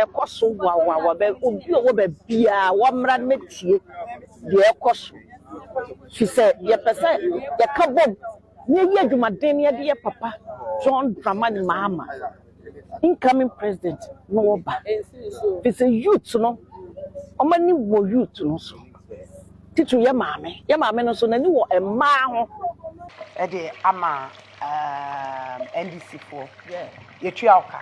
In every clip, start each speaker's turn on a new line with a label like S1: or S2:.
S1: ɛkɔ so wawa wɔ bɛ obi a ɔwɔ baabiara wɔmmra no mɛtie deɛ ɛkɔ so fi sɛ yɛpɛ sɛ yɛka bom na yɛyɛ adwumaden na yɛde yɛ papa John Dramani Mahama incoming president na ɔba fi sɛ youth no wɔn ani wɔ youth no so titiri yɛ maame yɛ maame no so n'ani wɔ mmaa ho ɛde
S2: ama um, ndc foɔ yɛtua wo ka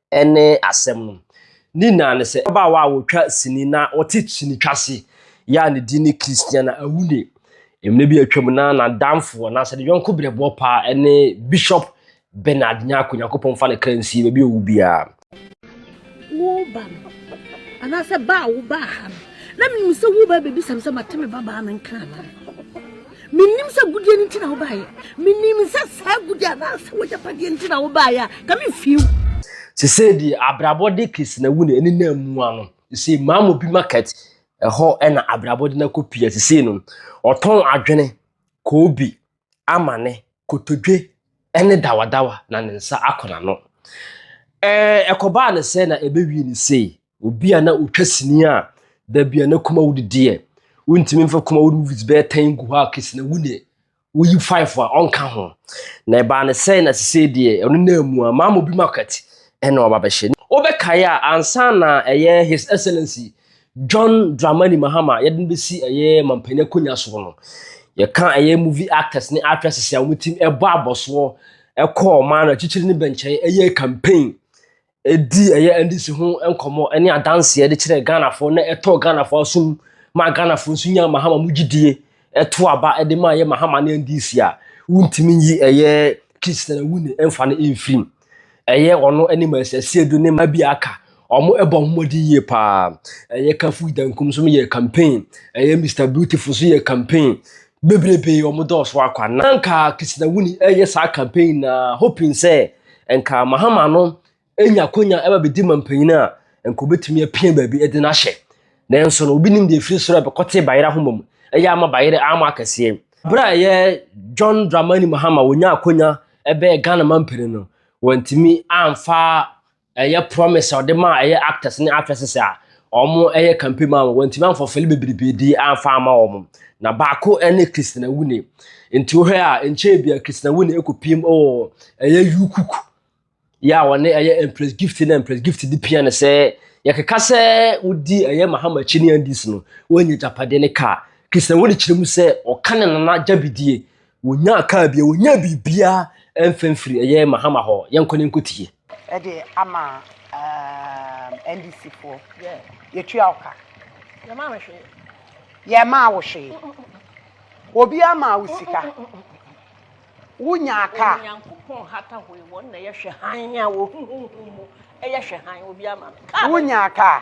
S3: ne asɛm no. Ne nyinaa ne sɛ, ababaawa a ɔtwa sini na ɔte sini twase yi a ne din ne Christiana Awune. Mmerɛ bi a atwam na n'adamfoɔ anaasɛ ne yɔnko berɛboɔ paa ne Bishop Bernard Nyarko, Nyankopɔn mfa ne kra nsie baabi a ɔwu biara.
S4: Wo ba no, anaasɛ ba a wobaa ha no, na menim sɛ woreba abɛbisa me sɛ mate me babaa no nka anaa? Minnim sɛ agudeɛ no nti na wobaeɛ. Menim sɛ saa agudeɛ anaasɛ w'agyapadeɛ nti na wobaeɛ a, nka memfie wo. Sesei
S3: deɛ abrabɔ de Christina-wu no ɛnenam mu a no, sesei Mamobi Market hɔ na abrabɔ de no akɔpia. Sesei no, ɔtɔn adwene, koobi, amane, kotodwe ne dawadawa na ne nsa akɔ n'ano. Ɛɛ, ɛkɔbaa no sɛn na ɛbɛwie no sei? Obi a na otwa sini a da bi a na kuma wo didi ɛ. Wontumi mfa kuma wo movies bɛyɛ tɛn gu hɔ a kesi na wo deɛ woyi five a ɔnka ho. Na ɛbaa ne sɛe na sesei deɛ ɔno na amu a Maama Obi Market ɛna waba abɛhyɛ. Wobɛkae a ansa na ɛyɛ His Excellency John Dramani Mahama yɛde no bɛsi ɛyɛ Mampanin akonwa soɔ no, yɛka ɛyɛ movie actors ne actresses a wɔtim ɛbɔ abɔsoɔ ɛkɔɔ ɔman no akyikyiri ne bɛnkyɛn ɛyɛɛ campaign ɛdii ɛyɛ NDC ho nkɔmmɔ ne adanseɛ de kyerɛɛ Ghanafoɔ na ɛtɔɔ Ghanafoɔ asom maa Ghanafoɔ nso nyaa Mahama mu gyidie ɛto aba de maa yɛ Mahama ne NDC a wontumi nyi ɛyɛ Christian Awuni mfa no mfirim. Ɛyɛ ɔno ne Mercy Asiedu ne mma bi a aka wɔn ɛbɔ ho mmɔden yie paa. Ɛyɛ Kafu Idankum nso yɛ campaign, ɛyɛ Mister Beautiful nso yɛ campaign bebrebe wɔn dɔɔso akwa. Na nka Christian Awuni ɛyɛ saa campaign na hoping sɛ nka Mahama no nya akonya ɛba bɛdi ma mpanyin a, nka obetumi apia baabi de no ahyɛ. Nanso no, obi nim deɛ ɛfiri soro a ɛbɛkɔte Bayerɛ ahoma mu. Ɛyɛ ama Bayerɛ ama akɛseɛ. Berɛ a ɛyɛ John Dramani Mahama wɔnya akonya ɛbɛɛ Ghana mampanin no, wɔntumi amfa ɛyɛ promise a ɔde maa ɛyɛ actors ne actresses a Wɔyɛ kampe maa wɔn, wɔantumi amfa ɔfɛli bebrebe di amfa ama wɔn. Na baako ne Christina Wune. Nti wohwɛ a nkyɛn bia Christina Wune ekopiem wɔ ɛyɛ Yukuk. Yɛ a wɔne ɛyɛ Empress Gift na Empress Gift di pia ne sɛ yɛkeka sɛ wodi ɛyɛ Mahama akyi ne Andes no, wɔnyɛ japade ne kaa. Christina Wune kyerɛ mu sɛ ɔka ne nana gyabidie Wɔnyaa kaa bia, wɔnyaa biribia ɛmfa mfiri ɛyɛ Mahama hɔ. Yɛnkɔ ne nkɔ tie. Ɛde ama
S2: um, NDC foɔ. Yɛtua wo ka. Yɛmaa me
S1: hwee. Yɛmaa
S2: wo hwee. Obi ama wo sika. Wonyaa kaa. Onyankopɔn hata
S1: hɔ wɔn na yɛhwɛ hann a wɔhuhuhu mu. Ɛyɛ hwɛ hann obi ama me. Wonyaa kaa.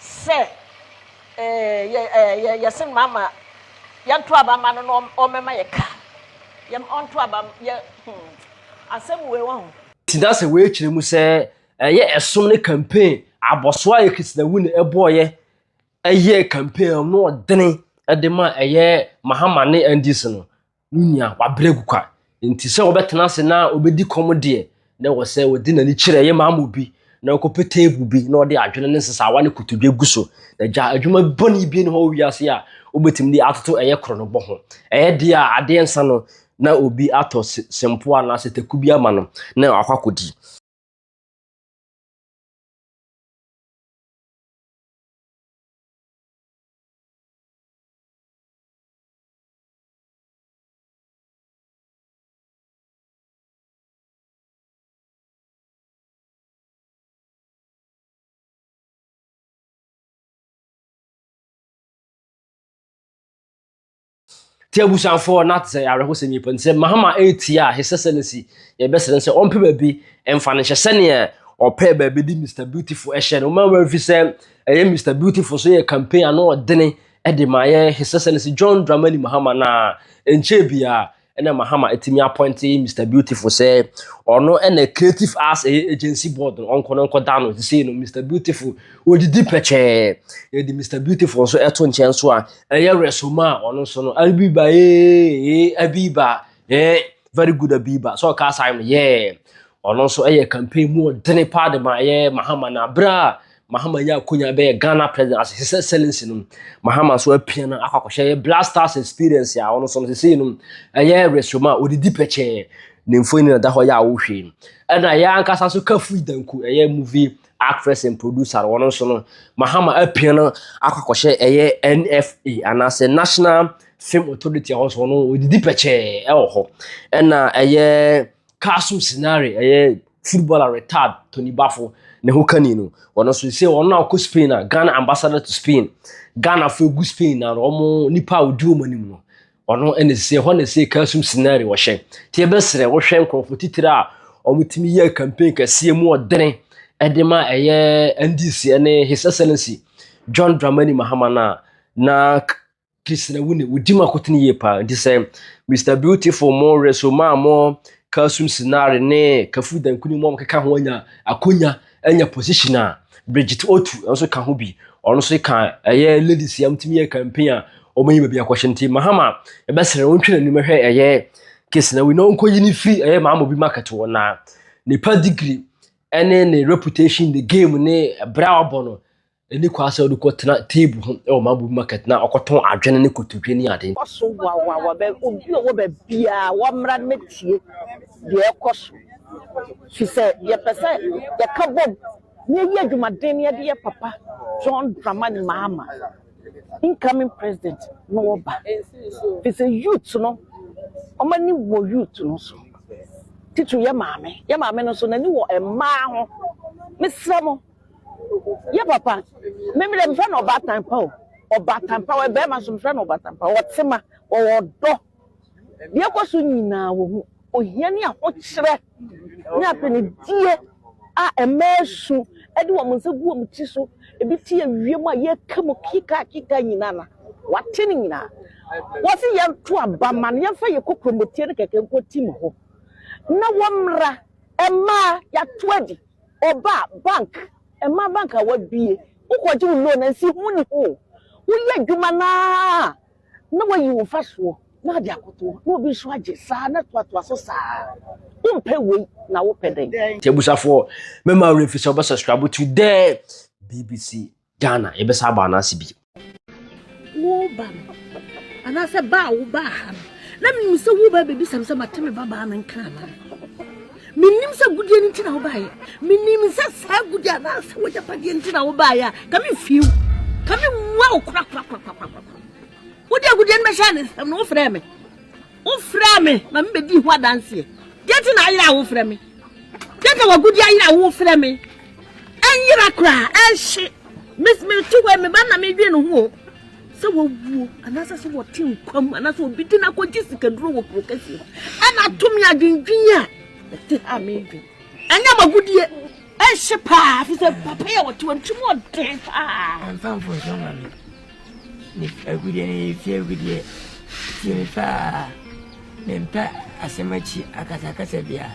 S1: sɛ yɛse no ama yɛnto aba ma no na ɔmmɛma yɛ ka ɔnto aba yɛ hmm, asɛm wei wɔ ho tena sɛ wei kyerɛ
S3: mu sɛ ɛyɛ ɛsom ne campaign abɔsoa yɛ krisinawu ne ɛbɔɔyɛ ɛyɛ campaign no ɔdene ɛde ma ɛyɛ mahama ne ndc no no nua wabrɛ agu kwa. Nti sɛ wɔbɛtena ase na wɔbɛdi kɔm deɛ, na ɛwɔ sɛ wɔde n'ani kyerɛ yɛ maama obi na ɔkɔpɛ teepu bi na ɔde adwene ne nsesaawa ne kotodwe gu so. Na gya adwuma bɔne bi ne hɔ wɔ wiase a wobɛtumi de atoto ɛyɛ koronobɔ ho. Ɛyɛ deɛ a adeɛ nsa no na obi atɔ sempoa anaasɛ taku bi ama no na wakɔ akɔdi. nti abusuafoɔ na te sɛ awerɛhosɛm yi pɔ nti sɛ mahama ɛretia a his excellency yɛbɛsrɛ sɛ ɔmpɛ baabi ɛmfa no hyɛ sɛneɛ ɔpɛ baabi de mr beautiful ɛhyɛ no ma wafi sɛ ɛyɛ mr beautiful so yɛ campaign ano ɔdene Ɛde ma yɛ His Excellency John Dramani Mahama na nkyɛn biara ɛna Mahama atumi apɔnte Mr Beautiful sɛ ɔno ɛna Creative Arts ɛyɛ Agency Board no ɔnkɔ no nkɔda no sisei no Mr Beautiful ɔdidi pɛkyɛɛ yɛde Mr Beautiful nso ɛto nkyɛn nso a ɛyɛ Resoma a ɔno nso no Abiba ee Abiba ee very good Abiba sɛ ɔka saa no yɛɛ ɔno nso ɛyɛ campaign mu ɔdene paa de ma yɛ Mahama na berɛ a Mahama nya akonya bɛyɛ Ghana president as his excellency no Mahama nso apia no akɔ akɔhyɛ yɛ Black Stars experience a ɔno nso no sesei no ɛyɛ resrom a ɔdidi pɛkyɛɛ ne mfoni na da hɔ yɛ a wohwɛ no ɛna yɛ ankasa nso Kafui Danku ɛyɛ movie actress and producer no ɔno nso no Mahama apia no akɔ akɔhyɛ ɛyɛ NFA anaasɛ National Film Authority a ɔno nso no ɔdidi pɛkyɛɛ ɛwɔ hɔ ɛna ɛyɛ Castle Scenario ɛyɛ footballer retired Tony Bafo ne ho kani no ɔno nso sɛ ɔno na ɔkɔ Spain a Ghana ambassador to Spain Ghana fo egu Spain na wɔn nipa a odi wɔn anim no ɔno ɛna sɛ hɔ na sɛ kasum scenario wɔhyɛ te ɛbɛsrɛ wɔhwɛ nkorɔfo titire a wɔn tumi yɛ campaign kɛseɛ mu ɔdene ɛde ma ɛyɛ NDC ɛne His Excellency John Dramani Mahama na na Christina Wune, wodi ma kotene yie paa. Nti sɛ Mr Beautiful mo reso maa mo Kasum Sinare ne Kafu Dankuni mo a wɔkeka ho anya akonya anya position a Bridget Otu nso ka ho bi. Ɔno nso ka ɛyɛ ladies yam tumi yɛ campaign a wɔyi baabi akɔhyɛ nti Mahama ɛbɛsrɛ wɔntwe n'anim hwɛ ɛyɛ Christina Wune na ɔnkɔyi ne firi ɛyɛ Maamobi market wɔ na nipa degree ɛne ne reputation ne game ne ɛbrɛ a ɔbɔ no Onni kwan sɛ ɔde kɔtena table ho wɔ Mabubu market na ɔkɔtɔn adwene ne kotodwe ne ade. Ɛkɔ so wawawa
S1: bɛ obi ɔwɔ baabiara wɔmmra no mɛtie deɛ ɛkɔ so fi sɛ yɛpɛ sɛ yɛka bom na yɛyi adwumaden no yɛde yɛ papa John Dramani Mahama incoming president na ɔba fi sɛ youth no wɔn ani wɔ youth no so titiri yɛ maame yɛ maame no nso n'ani wɔ mmaa ho mesrɛ mo yɛ papa me me deɛ mefrɛ no ɔbaatan pa o ɔbaatan pa wɔ bɛrima nso mefrɛ no ɔbaatan pa ɔte ma ɔwɔ ɔdɔ deɛ ɛkɔ so nyinaa wɔ ho ohia ne ahokyerɛ ne apɛnidie a mmaa su de wɔn nsa gu wɔn ti so ebi te awiem a yɛka mu kika kika nyinaa na wate ne nyinaa wɔsi yɛnto aba ma no yɛmfa yɛ kokomotie ne kɛkɛ nkɔ ti mu hɔ na wɔmmra mmaa yɛato adi. Ɔba bank, mmaa bank a wabue, wokɔgye wo loan a nsiho nni ho. Woyɛ adwuma no ara a, na woayi wo mfasoɔ na wode akoto hɔ, na obi nso agye saa na toatoa so saa. Wompɛ wei na wopɛ dɛn? Nti abusuafoɔ,
S3: mɛma wo werɛ mfiri sɛ wobɛsubscribe to the BBC. Ghana yɛbɛsan aba anaase bi. Wo
S4: ba no anaasɛ ba a wo baa ha no na menim sɛ wo ba bɛbisa me sɛ mate me ba baa no nka anaa menim sɛ gudeɛ no nti na wo baeɛ menim sɛ saa gudeɛ anaasɛ wagyapadeɛ nti na wo baeɛ a ka mefie wo ka mewua wo korakorakorakorakora wode agudeɛ no bɛhyɛ ne nsɛm no wofrɛ me Wofrɛɛ me ma mebɛdii ho adanseɛ. Deɛ nti na ayera a wofrɛ me? Deɛ nti na w'agudeɛ ayera a wofrɛ me? Ɛnyera koraa, ɛnhye. Mete hɔ yi, me ba na medwen ne ho o. Sɛ wawuo, anaasɛ sɛ wɔte nkwa mu, anaasɛ obi de no akɔgye sikaduro wɔ kuro kɛseɛ mu. Ɛna ato me adwendwen a, ɛte ha a medwen. Ɛnyɛ m'agudeɛ, ɛnhye paa, ɛfiri sɛ papa yi a wɔte hɔ no, tirim ɔden paa.
S5: Me agudeɛ no yɛ fie agudeɛ tie me paa mempɛ asɛm akyi akasakasa biara.